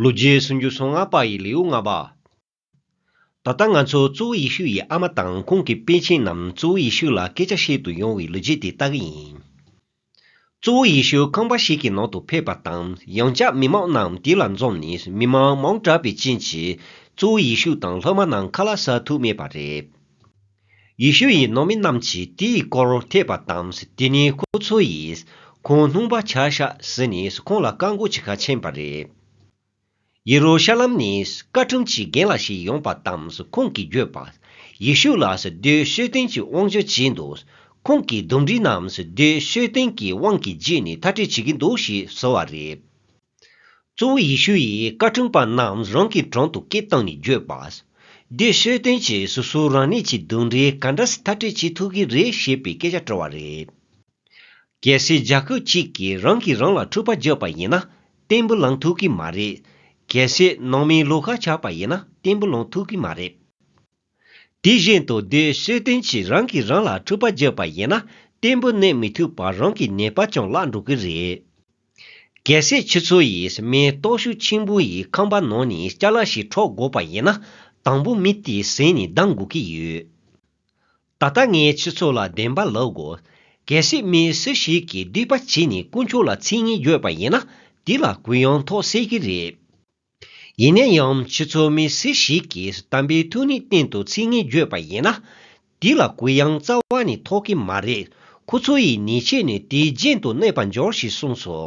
ལོ་རྒྱུས་སུ་འགྱུར་སོང་ང་དཔའ་ཡི་ལེའུ་ལྔ་པ། ད་ལྟ་ང་ཚོ་གཙོ་བོ་ཡེ་ཤུ་ཡི་ཨ་མ་དང་ཁོང་གི་དཔེ་ཆེན་རྣམས་གཙོ་བོ་ཡེ་ཤུ་ལ་སྐད་ཆ་བཤད་དུ་ཡོང་བའི་ལོ་རྒྱུས་དེ་ལྟ་གི་ཡིན། གཙོ་བོ་ཡེ་ཤུ་ཁང་པ་ཞིག་གི་ནང་དུ་ཕེབས་པ་དང་ཡང་བསྐྱར་མི་མང་རྣམས་དེ་ལ་འཛོམས་ནས་མི་མང་མང་དྲགས་པའི་རྐྱེན་གྱིས་གཙོ་བོ་ཡེ་ཤུ་དང་སློབ་མ་རྣམས་ཁ་ལ་ཟ་ཐུབ་མེད་པ་རེད། ཡེ་ཤུ་ཡིས་ནང་མི་རྣམས་ཀྱིས་དེའི་སྐོར་ཐེག་པ་དང་དེ་ནས་ཁོ་ཚོ་ཡིས་ཁོང་སྣུང་པ་བྱ་ཤག་ཟེར་ནས་ཁོང་ལ་བཀག་འགོག་བྱེད་ཁ་ཕྱེས་པ་རེད། ཡེ་རུ་ཤ་ལམ་ནས་བཀའ་ཁྲིམས་ཀྱི་རྒན་ལགས་ཤིག་ཡོང་པ་དང་ཁོང་གིས་བརྗོད་པ། ཡེ་ཤུ་ལ་བདུད་བཤོས་ལྡན་གྱི་དབང་བཅོལ་བྱས་འདུག་ཁོང་གིས་འདུམ་འགྲིག་རྣམས་བདུད་བཤོས་ལྡན་གྱི་དབང་གིས་བརྗེད་ནས་མཐའ་བྲལ་བྱེད་ཀྱི་འདུག་ཞེས་ཟེར་བ་རེད། གཙོ་བོ་ཡེ་ཤུ་ཡིས་བཀའ་དྲིན་པ་རྣམས་རང་གི་དྲུང་དུ་སྐད་བཏང་ནས་བརྗོད་པ། འདིར་ཤེས་ལྡན་གྱིས་སོ་སོའི་རང་ཉིད་ཀྱི་གདུང་རིགས་ག་འདྲ་ཞིག་ཐག་གཅོད་བྱེད་ཐུབ་ཀྱི་རེད་ཞེས་པའི་སྐད་ཆ་དྲི་བ་རེད། གལ་སྲིད་རྒྱ་ཁབ་ཅིག་གིས་རང་གིས་རང་ལ་འཁྲུག་པ་རྒྱག་པ་ཡིན་ན་བརྟན་པོ་ལངས་ཐུབ་ཀྱི་མ་རེད། གལ་སྲིད་ནང་མིའི་བློ་ཁ་ཆགས་པ་ཡིན་ན་བརྟན་པོ་ལངས་ཐུབ་ཀྱི་མ་རེད། དེ་བཞིན་དུ་འདིར་ཤེར་ཕྲན་གྱིས་རང་གིས་རང་ལ་འཁྲུལ་པ་བརྗོད་པ་ཡིན་ན་བརྟན་པོ་གནས་མི་ཐུབ་པར་རང་གི་ཉེས་པ་ཀྱང་བརླག་འགྲོ་གི་རེད། གལ་སྲིད་ཁྱེད་ཚོ་ཡིས་མེ་ཏོག་ཤུགས་ཆེན་པོ་ཡི་ཁང་པ་ནང་ནས་སྐྱ་ལག་ཞིག་འཕྲོག་དགོས་པ་ཡིན་ན་དང་པོ་མི་དེའི་གཟན་ནས་ལྡང་དགོས་ཀྱི་ཡོད། ད་ལྟ་ངས་ཁྱེད་ཚོ་ལ་བདེན་པ་ལབ་དགོས། གལ་སྲིད་མི་སུ་ཞིག་གིས་སྡིག་པ་བྱས་ནས་དཀོན་མཆོག་ལ་ཚིག་གཉིས་བརྗོད་པ་ཡིན་ན་དེ་ལ་གུ་ཡངས་ཐོག་སེལ་གྱི་རེད། ཡིན་ན་ཡང་ཁྱེད་ཚོ་མི་སུ་ཞིག་གིས་དམ་པའི་ཐུགས་ནི་གཏན་དུ་ཚིག་ངན་བརྗོད་པ་ཡིན་ན། དེ་ལ་གུ་ཡངས་རྩ་བ་ནས་ཐོགས་ཀྱི་མ་རེད་ཁོ་ཚོ་ཡི་ནི་ཆེས་ནས་དེའི་རྗེན་དུ་གནས་པར་འགྱོར་ཞེས་གསུངས་སོ།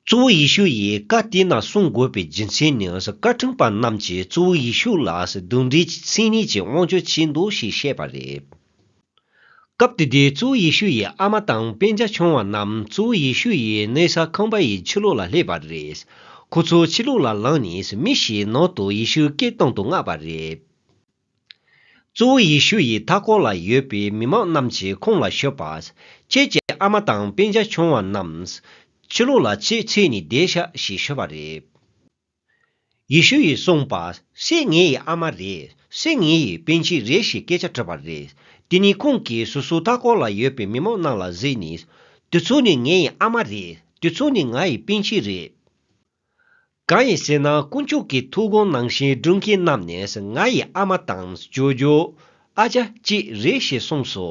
གཙོ་བོ་ཡེ་ཤུ་ཡི་བཀའ་དེ་ན་སྲུང་དགོས་པའི་རྒྱུ་མཚན་ནི་བཀའ་ཁྲིམས་པ་རྣམས་ཀྱིས་གཙོ་བོ་ཡེ་ཤུ་ལ་གདུང་འདྲེ་གྱི་ཚིག་ནི་ཆེས་དབང་ཆོས་ཆེ་འདུག་ཞེས་བཤད་པ་རེད། སྐབས་དེ་དུས་གཙོ་བོ་ཡེ་ཤུ་ཡི་ཨ་མ་དང་དཔེ་ཆ་ཆུང་བ་རྣམས་གཙོ་བོ་ཡེ་ཤུ་ཡི་གནས་ས་ཁང་པ་ཡི་ཕྱི་ལོགས་ལ་སླེབས་པ་རེད། ཁོ་ཚོ་ཕྱི་ལོགས་ལ་ལངས་ནས་མི་ཞིག་ནང་དུ་ཡེ་ཤུའི་སྐད་གཏོང་དུ་མངགས་པ་རེད། གཙོ་བོ་ཡེ་ཤུ་ཡི་མཐའ་སྐོར་ལ་ཡོད་པའི་མི་མང་རྣམས་ཀྱིས་ཁོང་ལ་ཤོད་པ། ཁྱེད་ཀྱི་ཨ་མ་དང་དཔེ་ཆ་ཆུང་བ་རྣམས་ཕྱི་ལོགས་ལ་ཕྱི་ཚེས་ནས་བསྡད་ཤག་ཞེས་ཤོད་པ་རེད། ཡེ་ཤུ་ཡིས་གསུངས་པ། སྲས་ངེད་ཡི་ཨ་མ་རེད། སྲས་ངེད་ཡི་དཔོན་ཆེན་རེད་ཞེས་སྐད་ཆ་དྲིས་པ་རེད། དེ་ནི་ཁོང་གིས་སོ་སོའི་ལྟ་སྐོར་ལ་ཡོད་པའི་མི་མང་རྣམས་ལ་གཟིགས་ནས། དེ་ཚོ་ནི་ངེད་ཡི་ཨ་མ་རེད། དེ་ཚོ་ནི་ང་ཡི་དཔོན་ཆེན་རེད། གང་ཡིན་ཟེར་ན་དཀོན་མཆོག་གི་ཐུགས་དགོངས་ནང་བཞིན་སྒྲུབ་མཁན་རྣམས་ནི་ང་ཡི་ཨ་མ་དང་ཇོ་ཇོ། ཨ་ཅག་བཅས་རེད་ཞེས་གསུངས་སོ།